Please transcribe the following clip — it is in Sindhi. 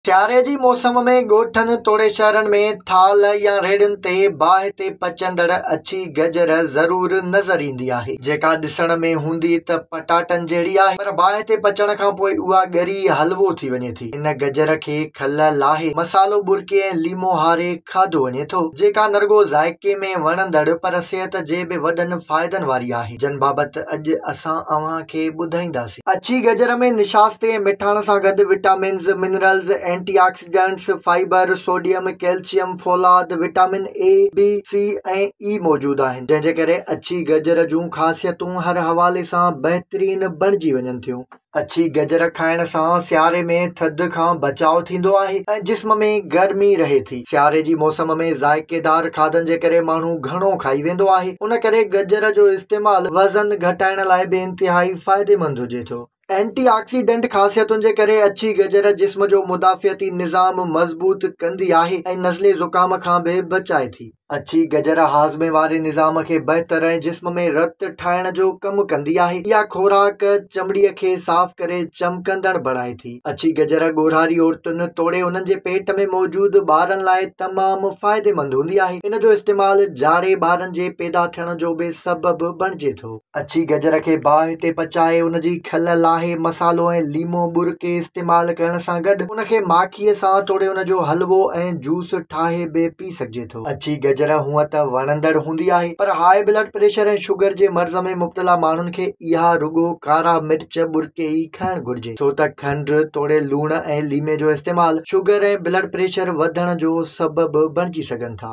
سياري جي موسم ۾ ڳوٺن توڙي شهرن ۾ ٿالهه يا ريڙهين تي باهه تي پچندڙ اڇي گجر ضرور نظر ايندي آهي، جيڪا ڏسڻ ۾ هوندي ته پٽاٽن جهڙي آهي پر باهه تي پچڻ کان پوء اها ڳري حلوو ٿي وڃي ٿي. ان گجر کي کل لاهي، مصالحو ٻرڪي ۽ ليمو هاري کاڌو وڃي ٿو، جيڪا نه رڳو ذائقي ۾ وڻندڙ پر صحت جي به وڏن فائدن واري آهي، جن بابت اڄ اسان اوهان کي ٻڌائينداسين. ٿي. اڇي گجر ۾ نشاستي ۽ مٺاڻ سان گڏ vitamins, minerals, antioxidants, fibre, sodium, calcium, فولاد، vitamin A, B, C ۽ A موجود آهن، جنهن جي ڪري اڇي گجر جون خاصيتون هر حوالي سان بهترين بڻجي وڃن ٿيون. اڇي گجر کائڻ سان سياري ۾ ٿڌ کان بچاء ٿيندو آهي ۽ جسم ۾ گرمي رهي ٿي. سياري جي موسم ۾ ذائقيدار کاڌن جي ڪري ماڻهو گهڻو کائي ويندو آهي ان ڪري گجر جو استعمال وزن گهٽائڻ لاء به انتهائي فائديمند هجي ٿو. اينٽي آڪسيڊنٽ خاصيتن جي ڪري اڇي گجر جسم جو مدافعتي نظام مضبوط ڪندي آهي ۽ نزلي زڪام کان به بچائي ٿي. اڇي گجر هاضمي واري نظام کي بهتر ۽ جسم ۾ رت ٺاهڻ جو ڪم ڪندي آهي. اها خوراڪ چمڙي کي صاف ڪري چمڪندڙ بڻائي ٿي. اڇي گجر ڳورهاري عورتن توڙي انهن جي پيٽ ۾ موجود ٻارن لاء تمام فائديمند هوندي آهي ان جو استعمال جاڙي ٻارن جي پيدا ٿيڻ جو به سبب بڻجي ٿو اڇي گجر کي باهه تي پچائي ان جي کل لاهي مسالو ۽ ليمو ٻرڪي استعمال ڪرڻ سان گڏ ان کي ماکيء سان توڙي ان جو حلوو ۽ جوس ٺاهي به پي سگهجي ٿو اڇي گجر هونئن ته وڻندڙ هوندي آهي پر هاء بلڊ پريشر ۽ شگر جي مرض ۾ مبتلا ماڻهن کي اها رڳو ڪارا مرچ ٻرڪي ئي کائڻ گهرجي ڇو ته کنڊ توڙي لوڻ ۽ ليمي جو استعمال شگر ۽ بلڊ پريشر وڌڻ جو سبب بڻجي سگهن ٿا.